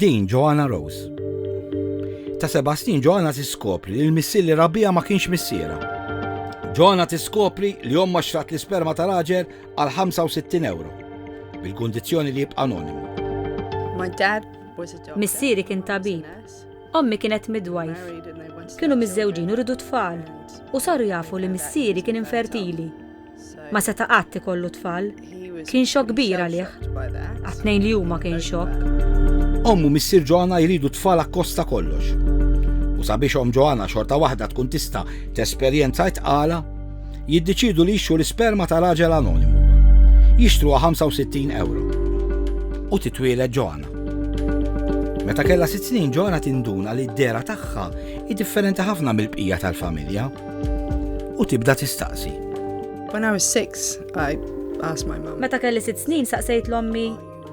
Din Joanna Rose. Ta' seba' snin Joanna tiskopri li l-missier li rabija ma kienx missiera. Joanna tiskopri li omma xtrat l-isperma ta' raġel għal 65 euro, bil-kundizzjoni li jibqa' anonimu. Missieri kien tabib. Ommi kienet midwife. Kienu miżżewġin u ridu tfal. U saru jafu li missieri kien infertili. Ma seta' qatt ikollu tfal. Kien xokk kbir għalih. Għat-tnejn li huma kien xokk. Omm u missier Joanna jridu tfal akkost ta' kollox. U sabiex omm Joanna xorta waħda tkun tista' tesperjenza t-tqala, jiddeċiedu li jixtru l-isperma ta' raġel anonimu. Jixtruha 65 ewro. U titwieled Joanna. Meta kellha sitt snin Joanna tinduna li d-dehra tagħha hi differenti ħafna mill-bqija tal-familja. u tibda tistaqsi. When I was six, I asked my mom. Meta kelli sitt snin saqsejt l-ommi,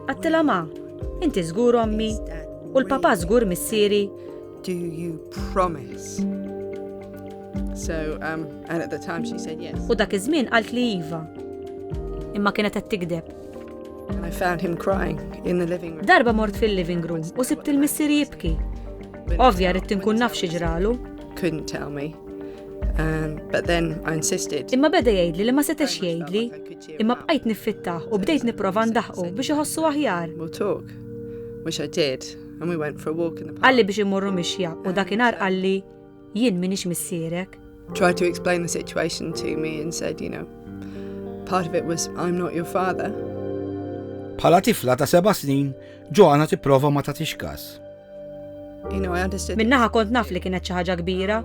għattila ma, inti żgur ommi, u l-papa żgur missieri. Do you promise? So, um, and at the time she said yes. U dak iż-żmien qalt li iva. Imma kienet qed tikdeb. I found him crying in the living room. Darba mort fil-living room u sibt il-missieri jibki. Ovvja rrid tinkun naf xi ġralu. couldn't tell me. Um, but then I insisted. Imma beda jgħidli li ma setax jgħidli, imma bqajt niffittaħ u bdejt nipprova ndaħqu biex iħossu aħjar. We'll talk, which I did, and we went for a walk in the park. Għalli biex immorru mixja u dakinhar għalli jien minix missierek. Tried to explain the situation to me and said, you know, part of it was I'm not your father. Bħala tifla ta' seba' snin, Joanna tipprova ma tagħtix każ. Minnaħa kont naf li kienet xi ħaġa kbira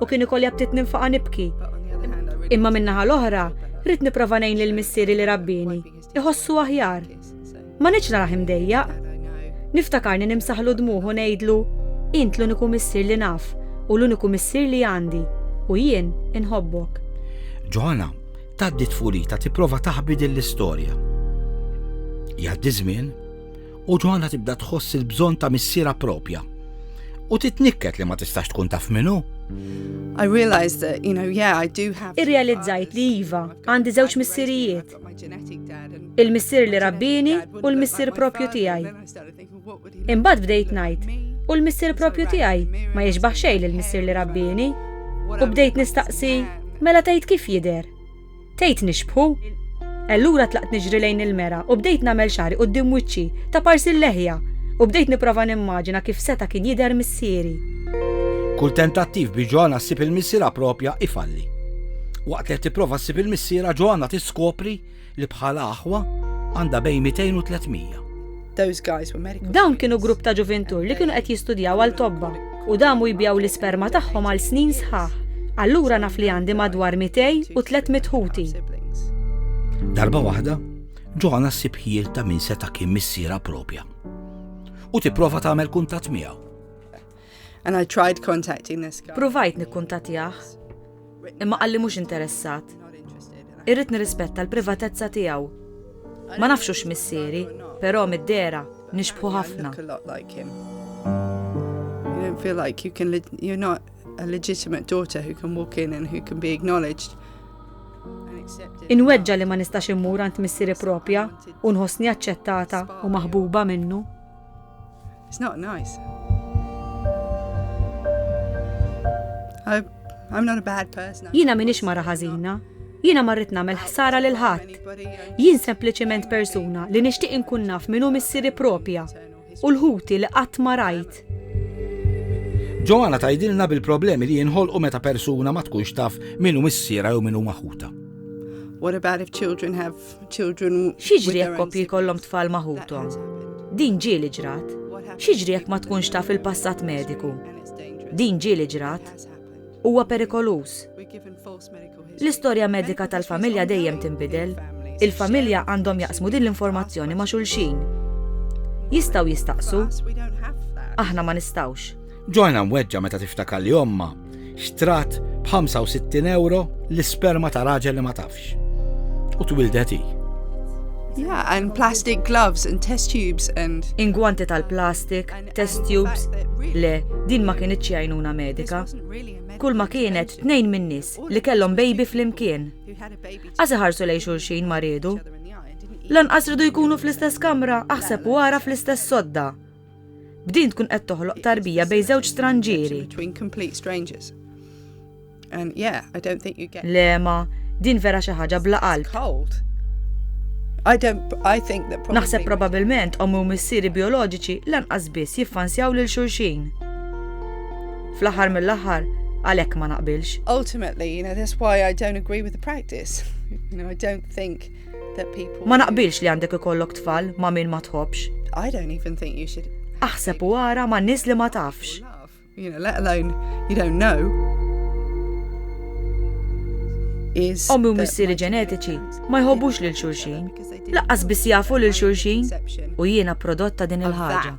u kien ikolli ftit ninfaqa nibki. Imma minnaħa l-oħra, rrid niprofa ngħin lil missieri li rabbini, iħossu aħjar. Ma nitx naraħ imdejjaq. Niftakarni nimsaħlu dmuħu ngħidlu, int l-uniku missier li naf u l-uniku missier li għandi u jien inħobbok. Ġoħana, taddi tfulita tipprova taħbi din l-istorja. Jgħaddi żmien U Ġwanna tibda tħoss il-bżonn ta' missiera propja. U titnikket li ma tistax tkun taf minnu. I realized that, you know, yeah, I do have. Irrealizzajt li iva, għandi żewġ missirijiet. Il-missier li rabbini u l-missier propju tiegħi. Imbagħad bdejt ngħid, u l-missier propju tiegħi ma jiġbaħ xejn lill-missier li rabbini. U bdejt nistaqsi, mela tgħid kif jidher? Tgħid nixbħu? Allura tlaqt niġri lejn il-mera u bdejt nagħmel xagħri quddiem wiċċi, ta' parsi l-leħja, u bdejt nipprova nimmaġina kif seta' kien jidher missieri. Kull tentattiv biex Joanna ssib il-missierha proprja ifalli. Waqt li qed tipprova ssib il-missierha, Joanna tiskopri li bħala aħwa għandha bejn 200 u 300. Dawn kienu grupp ta' ġuvintur li kienu qed jistudjaw għal tobba u damu jbigħu l-isperma tagħhom għal snin sħaħ. Allura naf li għandi madwar 200 u 300 ħuti. Darba waħda, Ġoħana ssib ħjiel ta' min seta' kien missiera propja u tipprova tagħmel kuntatt miegħu. And I tried contacting this guy. Provajt nikkuntattjah. imma qal li mhux interessat. Irrid nirrispetta l-privatezza tiegħu. Ma nafx hux missieri, però mid-dera nixbħu ħafna. You don't feel like you can you're not a legitimate daughter who can walk in and who can be acknowledged. Inweġġa li ma nistax immur għand missieri propja u nħossni aċċettata u maħbuba minnu. It's not nice. I, I'm not a bad person. Jina minix mara ħażina. Jina marrit namel ħsara lil ħadd. Jien sempliċement persuna li nixtieq inkun naf minn hu missieri propja u l-ħuti li qatt ma rajt. Ġoana tajdilna bil-problemi li jinħolqu meta persuna ma tkunx taf minn hu missiera jew minn hu maħuta. What about if children have X'jiġri jekk koppji jkollhom tfal ma' ħuthom? Din ġieli ġrat. X'jiġri jekk ma tkunx taf il-passat mediku? Din ġieli ġrat. Huwa perikoluż. L-istorja medika tal-familja dejjem tinbidel. Il-familja għandhom jaqsmu din l-informazzjoni ma' xulxin. Jistgħu jistaqsu? Aħna ma nistgħux. Joanna mweġġa' meta tiftakar li ommha, Xtrat b'65 euro l-isperma ta' raġel li ma tafx. U twildet hi. Yeah, and plastic gloves and test tubes and... Ingwanti tal-plastik, test tubes, le, din ma kienet ċjajnuna medika. Kull ma kienet tnejn minn nis li kellhom baby fl-imkien. Għazi ħarsu lej xulxin maridu. Lanqas ridu jkunu fl-istess kamra, aħseb wara fl-istess sodda. B'din tkun qed toħloq tarbija bejn żewġ stranġieri. Lema, din vera xi ħaġa bla qalb. Naħseb probabilment ommi u missieri bioloġiċi lanqas biss jiffansjaw lil xulxin. Fl-aħħar mill-aħħar, għalhekk ma naqbilx. Ultimately, you know, that's why I don't agree with the practice. You know, I don't think Ma naqbilx li għandek ikollok tfal ma' min ma tħobbx. I don't even think you should. Aħseb u ara ma' nies li ma tafx. You know, let alone you don't know. Ommi u missieri ġenetiċi ma jħobbux lil xulxin. Laqqas biss jafu lil xulxin u jiena prodotta din il-ħaġa.